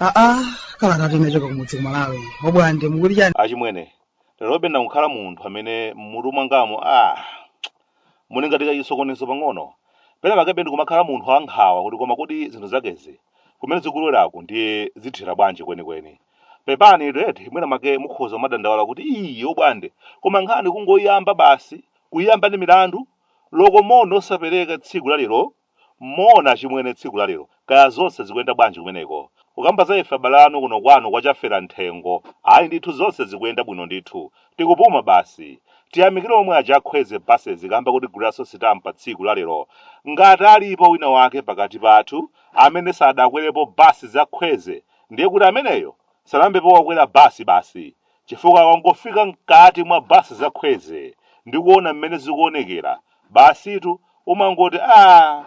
aa kalatayi inachoka kumudzi kumalawi obwande mukuti chani achimwene lerobe ndikukhala munthu amene mmutu mwangamo ah Muli ngati kachisokonezo pang'ono. Pena pakebe ndikumakhala munthu wa nkhawa kuti koma kodi zinthu zakezi kumene zikuloweraku ndiye zithera bwanji kwenikweni. Pepanitu eti mwina mwake mukhoza kumadandaula kuti ii obwande koma nkhani kungoyiyamba basi, kuyiyamba ndi milandu, loko moni osapereka tsiku la lero Moona achimwene tsiku la lero kaya zonse zikuyenda bwanji kumeneko? Kukamba za ife abale anu kuno kwanu kwa Chafera nthengo ayi ndithu zonse zikuyenda bwino ndithu. Tikupuma basi. Tiyamikile omwe aja a Kwezy buses kamba kotiguliraso sitampa tsiku la lero. Ngati alipo wina wake pakati pathu amene sadakwerepo bus za Kwezy ndiye kuti ameneyo sanayambepo wakwera bus basi. Chifukwa ukangofika mkaati mwa bus za Kwezy ndi kuona mmene zikuonekera, basitu umangoti aah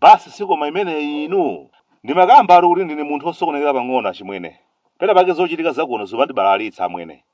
bus si koma imeneyi inu? Ndimakambatu kuti ndine munthu osokonekera pang'ono achimwene. Pena pake zochitika za kuno zumandibalalitsa amwene.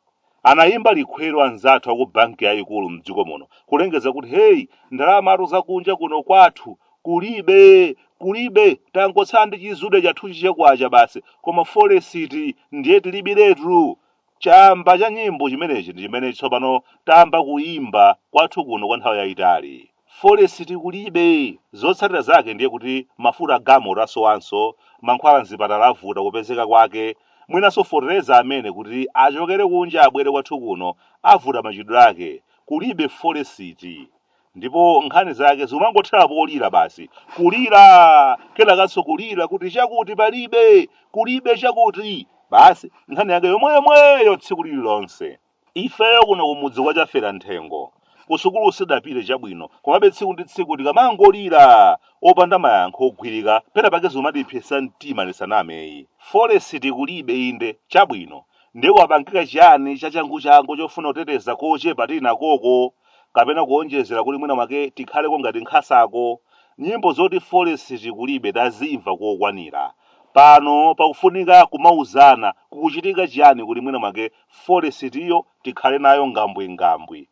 Anayimba likhweru anzathu aku banki yayikulu mdziko muno kulengeza kuti hey ndalamatu za kunja kuno kwathu Kulibe! Kulibe! Tangotsala ndi chizuda chathuchi cha kwacha basi, koma folesiti ndiye tilibiretu! Chamba cha nyimbo chimenechi ndi chimene tsopano tayamba kuimba kwathu kuno kwa nthawi yaitali. Folesiti kulibe! Zotsatira zake ndiye kuti mafuta a galimoto asowanso, mankhwala m'zipatala avuta kupezeka kwake, mwinanso fotereza amene kuti achokere kunja abwere kwathu kuno avuta machitidwe ake. Kulibe folesiti! ndipo nkhani zake zikumangothera polira basi kulira kenakanso kulira kuti chakuti palibe kulibe chakuti basi nkhani yake yomweyomweyo tsiku lililonse ifeyo kuno kumudzi kwa chafera nthengo kusukulu sidapite chabwino komabe tsiku ndi tsiku tikamangolira opanda mayankho ogwirika pena pake zimatipsetsa mtima tisaname ayi foresiti kulibe inde chabwino ndiye kwapangika chiyani chachanguchangu chofuna kuteteza kochepa tili nakoko kapena kuonjezera kuti mwina mwake tikhaleko ngati nkhasako nyimbo zoti foresiti kulibe tazimva kokwanira pano pakufunika kumauzana kukuchitika chiyani kuti mwina mwake foresitiyo tikhale nayo ngambwingambwi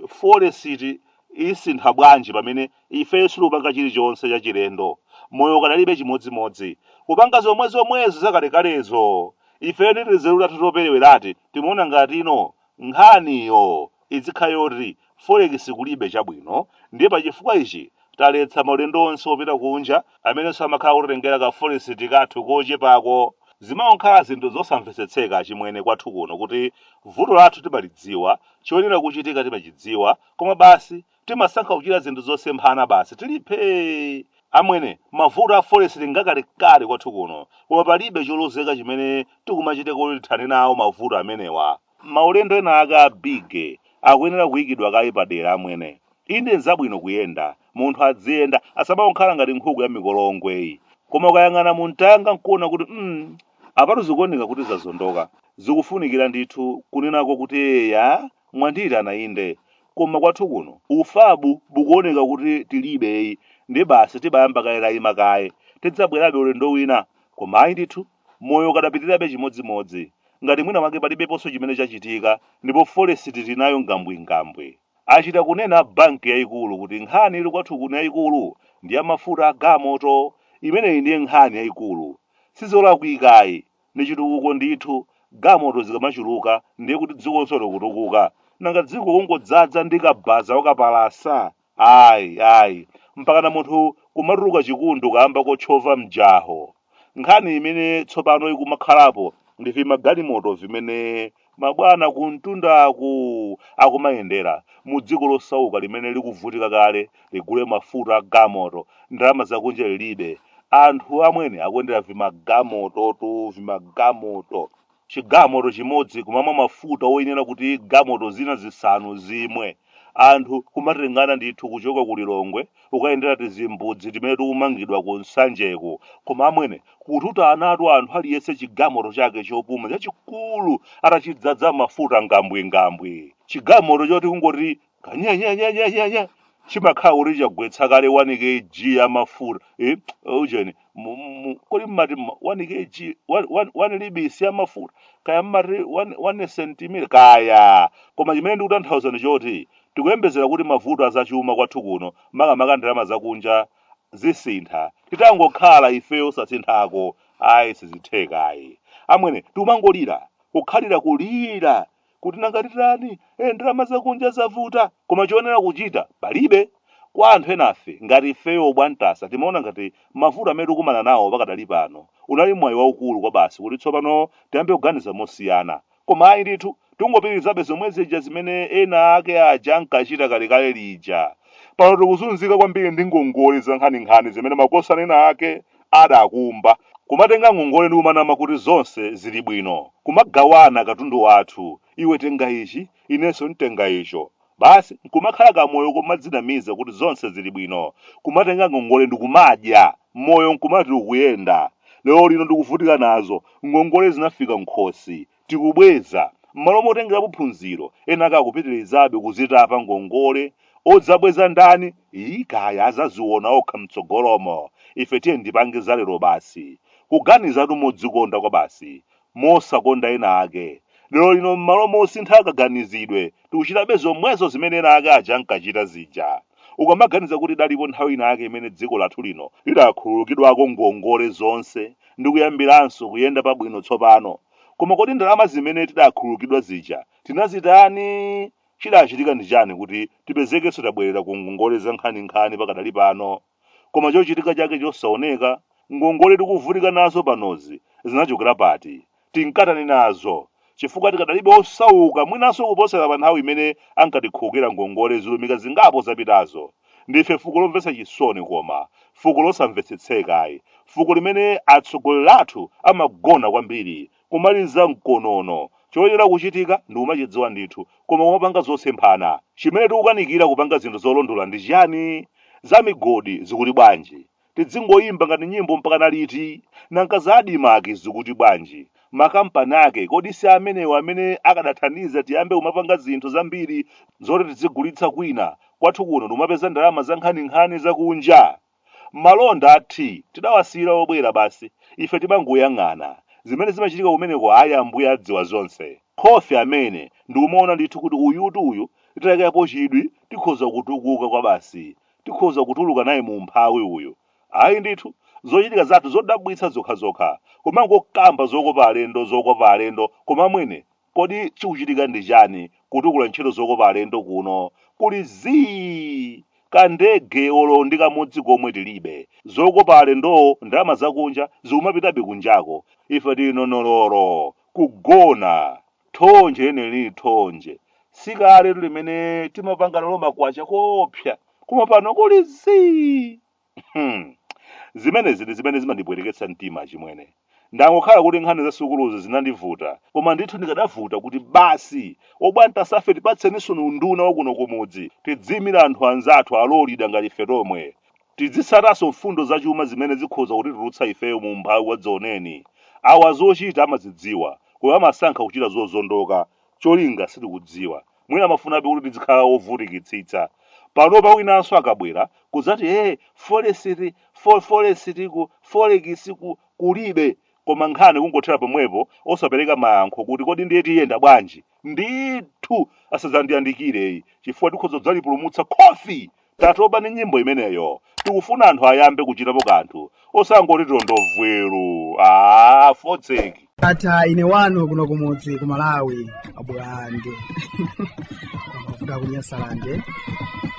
foresiti isintha bwanji pamene ifeyo sitikupanga chilichonse chachilendo moyo ukadalibe chimodzimodzi kupanga zomwe zomwezo zakalekalezo ifeyo ndi tinzeru tathu toperewerati timaona ngati ino Nkhaniyo izikhala yoti forex kulibe chabwino ndiye pa chifukwa ichi taletsa maulendo onse opita kunja amenenso amakhala akutitengera ka forex kathu kochepako. Zimangokhala zinthu zosamvesetseka achimwene kwathu kuno kuti vuto lathu timalidziwa, choyenera kuchitika timachidziwa koma basi timasankha kuchita zinthu zosemphana basi tili phee amwene mavuto a forex ngakalekale kwathu kuno koma palibe cholozeka chimene tikumachita kuti tithane nawo mavuto amenewa maulendo ena ake a big akuyenera kuyikidwa kaye padera amwene inde nzabwino kuyenda munthu adziyenda asamangokhala ngati nkhuku ya mikolongweyi koma ukayang'ana mumtanga nkuona kuti mm, apatu zikuoneka kuti zazondoka zikufunikira ndithu kunenako kuti eya mwandiyitana inde koma kwathu kuno ufabu ukuoneka kuti tilibe ayi ndi basi tibayamba kaye tayima kaye tidzabwerabe ulendo wina koma ayi ndithu moyo ukadapitirabe chimodzimodzi ngati mwina wake palibeponso chimene chachitika ndipo forex tinayo ngambwingambwi achita kunena a banki yayikulu kuti nkhani ili kwathu kuno yayikulu ndi ya mafuta a gamoto imeneyi ndiye nkhani yayikulu sizolakwika ayi Ndi chitukuko ndithu. Gamoto zikamachuluka ndiye kuti dzikonso likutukuka. Nanga dziko kungodzadza ndi kabaza wokapalasa? Ayi, ayi. Mpakana munthu kumatuluka chikundu kaamba kotchova mjaho. Nkhani imene tsopano ikumakhalapo ndi vimagalimoto vimene Mabwana kumtundaku akumayendera mu dziko losauka limene likuvutika kale ligule mafuta a gamoto ndalama zakunja lilibe. Anthu amwene akuyendera vimagamototu vimagamoto. Chigamoto chimodzi kumamwa mafuta oyenera kuti gamoto zina zisanu zimwe. anthu kumatengana ndithu kuchoka ku lilongwe kukayendera tizimbudzi timene tikumangidwa ku nsanjeku koma amwene kututanatu anthu aliyense chigamoto chake chopuma chachikulu atachidzadza mafuta ngambwingambwi chigamoto choti kungoti kanyanyanyanyanya chimakhala kuti chagwetsa kale 1 kg ya mafuta eh, ujeni Mu- mu- kodi mmati mma- 1 kg 1 lbs ya mafuta kaya mmati 1 sentimita kaya koma chimene ndikutanthauza ndi choti tikuyembezera kuti mavuto azachuma kwathu kuno makamaka ndalama zakunja zisintha titangokhala ifeyo osasinthako ayi sizithekayi amwene tikumangolira kukhalira kulira kuti nanga titani eh, ndalama zakunja zavuta koma choyenera kuchita palibe kwa anthu enafe ngati ifeyo obwantasa timaona ngati mavuto amene tikumana nawo pakadali pano unali mwayi waukulu kwa basi kuti tsopano tiyambe kuganiza mosiyana koma ayi ndithu tingopitirizabe zomwe zija zimene ena ake aja ankachita kalekale lija pano tikuzunzika kwambiri ndi ngongole zankhaninkhani zimene makosana ena ake Adakumba. Kumatenga ngongole ndi kumanama kuti zonse zili bwino. Kumagawana katundu wathu. Iwe tenga ichi, inenso ntenga icho. Basi nkumakhala kamoyo komadzinamiza kuti zonse zili bwino. Kumatenga ngongole ndi kumadya. Moyo nkumati ukuyenda. Lero lino ndikuvutika nazo. Ngongole zinafika m'khosi. tikubweza, m'malo motengerapo phunziro, enaake akupitilizabe kuzitapa ngongole, odzabweza ndani? ii kaya adzaziona okha mtsogolomo, ife tiyeni tipange za lero basi, kuganizatu modzikonda kwabasi, mosakonda ena ake, lero lino m'malo mosintha kaganizidwe tikuchitabe zomwezo zimene ena ake aja ankachita zija, ukamaganiza kuti idalipo nthawi ina yake imene dziko lathu lino lidakhululukidwako ngongole zonse ndikuyambiranso kuyenda pabwino tsopano, Koma kodi ndalama zimene tidakhululukidwa zija tinazitani? Chidachitika ndi chani kuti tipezekenso tabwerera ku ngongole zankhaninkhani pakadali pano? Koma chochitika chake chosaoneka, ngongole tikuvutika nazo panozi zinachokera pati? Tinkatani nazo? Chifukwa tikadalibe osauka mwinanso kuposera panthawi imene ankatikhululukira ngongole zilumika zingapo zapitazo. Ndife fuko lomvetsa chisoni koma, fuko losamvetsetseka ayi, fuko limene atsogoleri athu amagona kwambiri, kumaliza mkonono, choyenera kuchitika tikumachidziwa ndithu, koma kumapanga zosemphana. Chimene tikukanikira kupanga zinthu zolondola ndi chiyani? Za migodi zikuti bwanji? tidzingoyimba ngati nyimbo mpakana liti? Nanga za Admarc zikuti bwanji? Makampani ake kodi si amenewo amene akadathandiza tiyambe kumapanga zinthu zambiri zoti tidzigulitsa kwina, kwathu kuno ndikumapeza ndalama zankhaninkhani zakunja? Malonda a tea tidawasiyira obwera basi, ife timangoyang'ana. Zimene zimachitika kumeneko ayi Ambuye adziwa zonse. Khofi amene, ndikumaona ndithu kuti uyutu uyu titayikapo chidwi tikhoza kutukuka kwabasi. Tikhoza kutuluka naye mu umphawi uyu? Ayi ndithu, zochitika zathu zodabwitsa zokhazokha, kumangokamba zokopa alendo zokopa alendo koma amwene kodi chikuchitika ndi chani kutukula ntchito zokopa alendo kuno kuli zii ka ndege olo ndi kamodzi komwe tilibe, zokopa alendozo ndalama zakunja zikumapitabe kunjako ife tili nonoloro kugona. Thonje lenileni thonje. Si kaletu limene timapanga nalo makwacha koopsa, koma pano kuli zii! Hmm. Zimenezi ndi zimene zimandipweteketsa mtima achimwene. Zangokhala kuti nkhani za sukuluzi zinandivuta, koma ndithu ndikadavuta kuti basi obwana tasafe tipatseninso unduna wa kuno kumudzi tidziimire anthu anzathu alolida ngati ife tomwe. Tidzitsatanso mfundo zachuma zimene zikhoza kutitulutsa ifeyo mu umphawi wadzaoneni. Awa zochita amadzidziwa, koma amasankha kuchita zozondoka. Cholinga sitikudziwa. Mwina amafunabe kuti tidzikhala ovutikitsitsa. Panopa winanso akabwera, kudzati ee, folesiti, folesiti ku, folekisi ku, kulibe. Koma nkhani kungothera pomwepo osapereka mayankho kuti kodi ndiye tiyenda bwanji? ndithu asadzandiyandikire iyi chifukwa tikhoza kudzalipulumutsa khofi tatoba ndi nyimbo imeneyo tikufuna anthu ayambe kuchitapo kanthu osangoti tili ndo vweru aa fotseki atha ine wanu kuno kumudzi ku malawi abwande amavuta kunyasalande